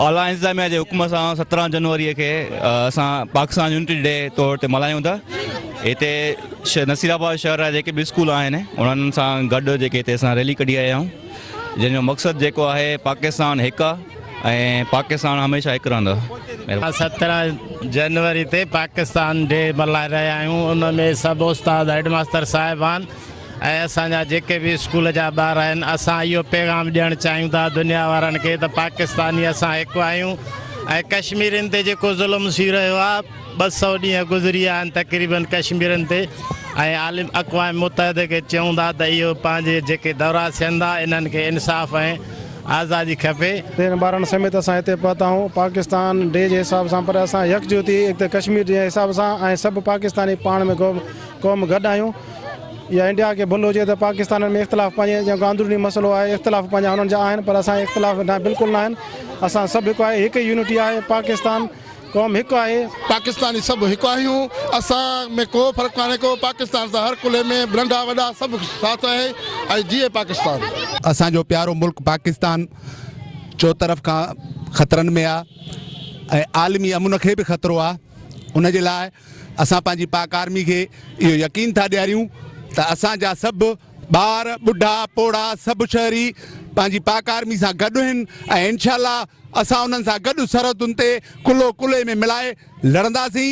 اعليٰ انتظاميا جي حڪم سان سترهن جنوري کي اسان پاڪستان يونٽي ڊي طور تي ملهايون ٿا هتي نصير آباد شهر جا جيڪي به اسڪول آهن انهن سان گڏ جيڪي هتي اسان ريلي ڪڍي آيا آهيون جنهن جو مقصد جيڪو آهي پاڪستان هڪ آهي ۽ پاڪستان هميشه هڪ رهندو اسان سترهن جنوري تي پاڪستان ڊي ملهائي رهيا آهيون ان ۾ سڀ استاد هيڊ ماستر صاحبان ۽ اسان جا جيڪي به اسڪول جا ٻار آهن اسان اهو پيغام ڏيڻ چاهيون ٿا دنيا وارن کي ته پاڪستاني اسان هڪ آهيون ۽ ڪشميرين تي جيڪو ظلم ٿي رهيو آهي ٻه سؤ ڏينهن گذري ويا آهن تقريبن ڪشميرين تي ۽ عالم اقوام متحده کي چئون ٿا ته اهو پنهنجي جيڪي دورا ٿين ٿا انهن کي انصاف ۽ آزادي کپي. تيرنهن ٻارن سميت اسان هتي پهتا آهيون پاڪستان ڊي جي حساب سان پر اسان يڪجهتي اڪته ڪشمير جي حساب سان ۽ سڀ پاڪستاني پاڻ ۾ قوم گڏ آهيون. يا انڊيا کي ڀل هجي ته پاڪستانين ۾ اختلاف پنهنجي جيان ڪو اندروني مسئلو آهي اختلاف پنهنجا هنن جا آهن پر اسان اختلاف نه بلڪل نه آهن اسان سڀ هڪ آهي هڪ يونٽي آهي پاڪستان قوم هڪ آهي. پاڪستاني سڀ هڪ آهيون اسان ۾ ڪو فرق ڪانهي ڪو پاڪستان سان هر ڪلهي ۾ ننڍا وڏا سڀ ساٿ آهي ۽ جيئي پاڪستان. اسان جو پيارو ملڪ پاڪستان چوطرف کان خطرن ۾ آ ۽ عالمي امن کي به خطرو آ ان جي لاء اسان پنهنجي پاڪ آرمي کي اهو يقين ٿا ڏياريون ته اسان جا سڀ ٻار، ٻڍا، پوڙها سڀ شهري پنهنجي پاڪ آرمي سان گڏ هن ۽ انشاء الله اسان انهن سان گڏ سرحدن تي ڪلهو ڪلهي ۾ ملائي لڙنداسين.